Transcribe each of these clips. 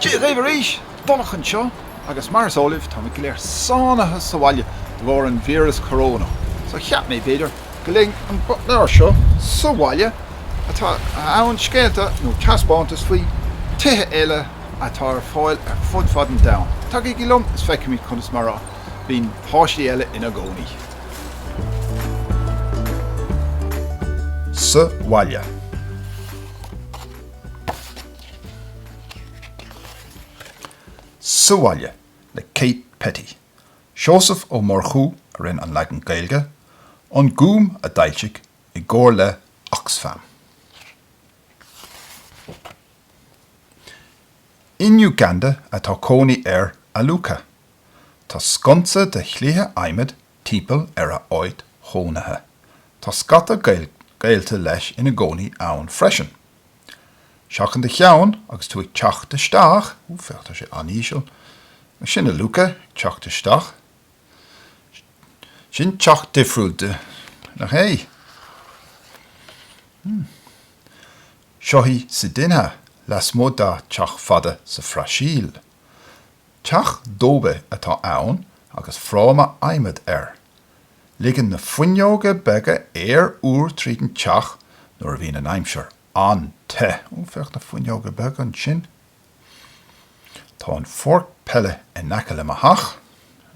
Dia dhaoibh arís, Donncha anseo agus mar is eol libh táimid go léir sáinnithe sa bhaile de bharr an víreas corónach so cheap mé b'fhéidir go léifinn an leabhar seo sa bhaile atá ann scéalta nó taispeántas faoi tithe eile atá ar fáil ar fud fad an domhain. Tagaigí liom is feicfimid conas mar a bhíonn páistí eile ina gcónaí sa bhaile. Sa Bhaile le Kate Petty. Seosamh Ó Murchú a rinne an leagan Gaeilge, An Gúm a d'fhoilsigh i gcomhar le Oxfam. In Uganda atá cónaí ar Aluka. Tá sconsa de chliatha adhmaid timpeall ar a áit chónaithe. Tá scata gaolta leis ina gcónaí ann freisin. Seachain do cheann agus tú ag teacht isteach. Ó, féach, tá sé an-íseal. Sin Aluka ag teacht isteach. Sin teach difriúil, nach ea? Seo í Cidinha lasmuigh dá teach fada sa Bhrasaíl. Teach dóibe atá ann agus fráma adhmaid air. Ligeann na fuinneoga beaga aer úr tríd an teach nuair a bhíonn an aimsir an-te. Ó, féach na fuinneoga beaga ansin. Tá an pháirc peile in aice le mo theach.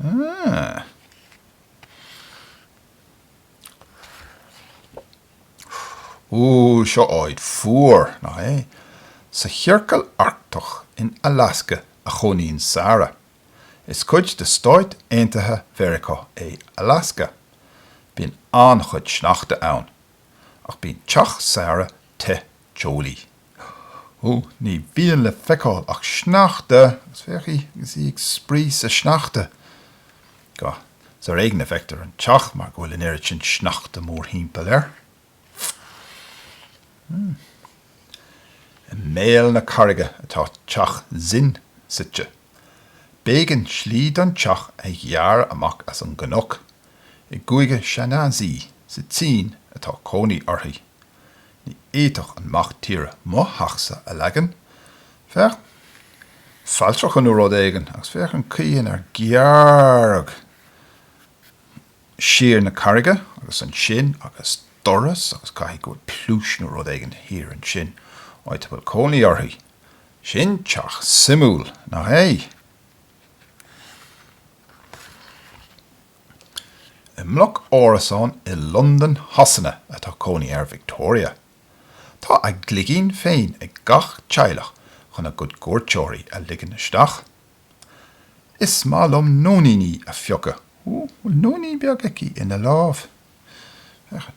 Ááá. Ó, seo áit fuar, nach é? Sa Chiorcal Arctach in Alasca a chónaíonn Sara. Is cuid de Stáit Aontaithe Mheiriceá é Alasca. Bíonn an-chuid sneachta ann. Ach bíonn teach Sara te teolaí. Ó, ní bhíonn le feiceáil ach sneachta agus féach í agus í ag spraoi sa sneachta. Agus ar éigin a bhfeictear an teach mar go bhfuil an oiread sin sneachta mórthimpeall air. I mbéal na carraige atá teach Zin suite. B'éigean slí don teach a ghearradh amach as an gcnoc. I gCúige Shaanxi sa tSín atá cónaí uirthi. Ní fhéadfadh an mac tíre mo theachsa a leagan. Féach fáil tráchta nó rud éigin agus féach an chaoi inar gearradh siar sa charraig é agus ansin agus doras agus caithfidh go bhfuil pluais nó rud éigin thiar ansin áit a bhfuil cónaí orthu. Sin teach suimiúil, nach é? I mbloc árasán i Londain Shasana atá cónaí ar Victoria. Tá a gcloigín féin ag gach teaghlach chun a gcuid cuairteoirí a ligean isteach. Is maith liom nóiníní a phiocadh. Bhfuil nóinín beag aici ina lámh? Féach.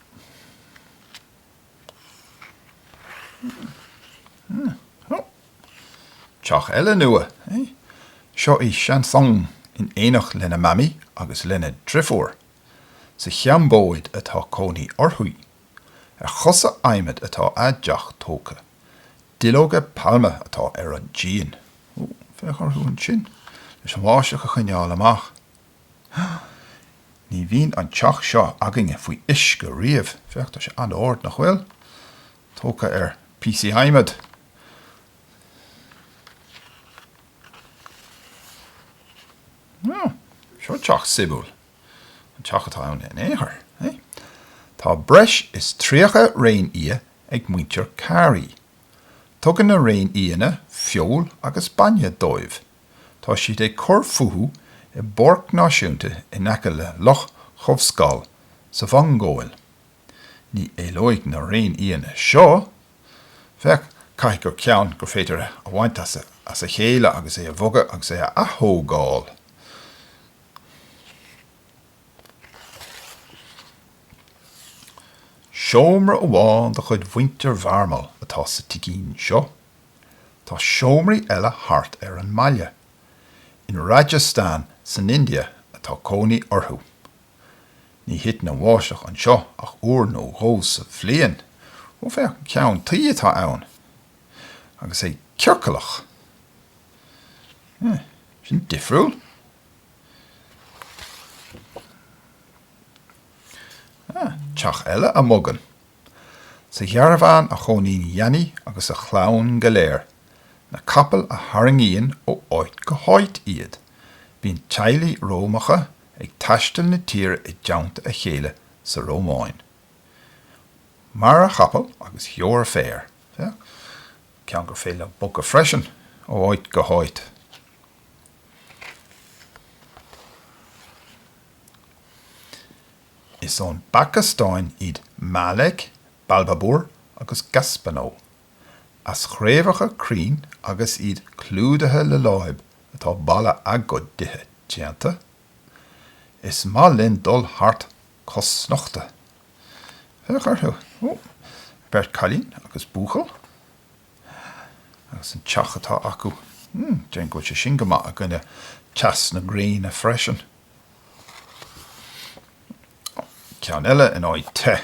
Teach eile nua. Seo í Shansung in éineacht lena Mamaí agus lena drifiúr. Sa Chambóid atá cónaí orthu. Ar chosa adhmaid atá a dteach tógtha. Duilleoga pailme atá ar an díon. Ó, féach orthu ansin leis an bháisteach a choinneáil amach. Ní bhíonn an teach seo againne faoi uisce riamh. Féach, tá sé an-ard, nach bhfuil? Tógtha ar phíosaí adhmaid. Ó, seo teach suimiúil. An teach atá ann in aon chor é? Tá breis is tríocha réinfhia ag muintir Carey. Tugann na réinfhianna feoil agus bainne dóibh Tá siad ag cur fúthu i bpáirc náisiúnta in aice le Loch Chobhscal sa Mhongóil. Ní éalóidh na réinfhianna seo. Féach, caithfidh gur ceann gur féidir é a bhaint as a chéile agus é a bhogadh agus é a athógáil. Seomra amháin de chuid mhuintir Bheairmaill atá sa tigín seo. Tá seomraí eile thart ar an mbaile. In Rajasthan san India atá cónaí orthu. Ní thiteann an bháisteach anseo ach uair nó dhó sa bhliain. Ó féach an ceann tuí atá ann. Agus é ciorcalach. Huh. Sin difriúil. Ah, teach eile a bhogann. Sa charbhán a chónaíonn Gianni agus a chlann go léir. Na capaill a tharraingíonn ó áit go háit iad. Bíonn teaghlaigh Romacha ag taisteal na tíre i dteannta a chéile sa Rómáin. Mair, a chapaill, agus gheobhair féar. Féach ceann gur féidir leat bogadh freisin ó áit go háit. Is ón bPacastáin iad Malek, Balbhaboor agus Gaspano. As chraobhacha crainn agus iad clúdaithe le láib atá ballaí a gcuid tithe déanta. Is maith linn dul thart cosnochta. Féach orthu. Ó! Beirt chailín agus buachaill. Agus an teach atá acu. Déarfainn go bhfuil sé sin go maith i gcoinne teas na gréine freisin. Ceann eile in áit te.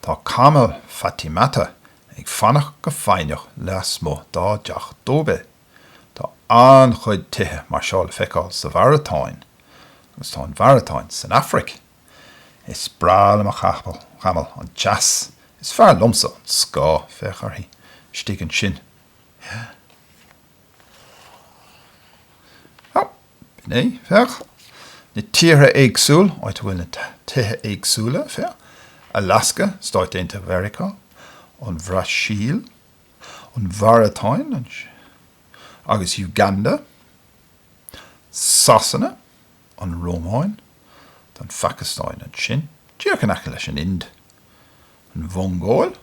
Tá camall Fatimatta ag fanacht go foighneach leasmuigh dá dteach dóibe. Tá an-chuid tithe mar seo le feiceáil sa Mháratáin. Agus tá an Mháratáin san Afraic. Is breá le mo chamall an teas. Is fearr liomsa an scáth. Féach uirthi istigh ansin. B'in é, féach, na tíortha éagsúla, áit a bhfuil na tithe éagsúla, féach, Alaska, Stáit Aontaithe Mheiriceá, an Bhrasaíl, an Mháratáin, ansin, agus Uganda, Sasana, an Rómáin, an Phacastáin, ansin, díreach in aice leis an Ind. an Mhongóil,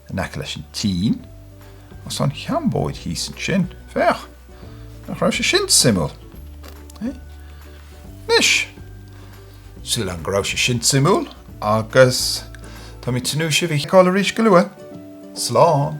in aice leis an tSín, agus tá an Chambóid thíos ansin. Féach! Nach raibh sé sin suimiúil? Anois, sílim go raibh sé sin suimiúil agus tá mé ag tnúth le sibh a fheiceáil arís go luath. Slán!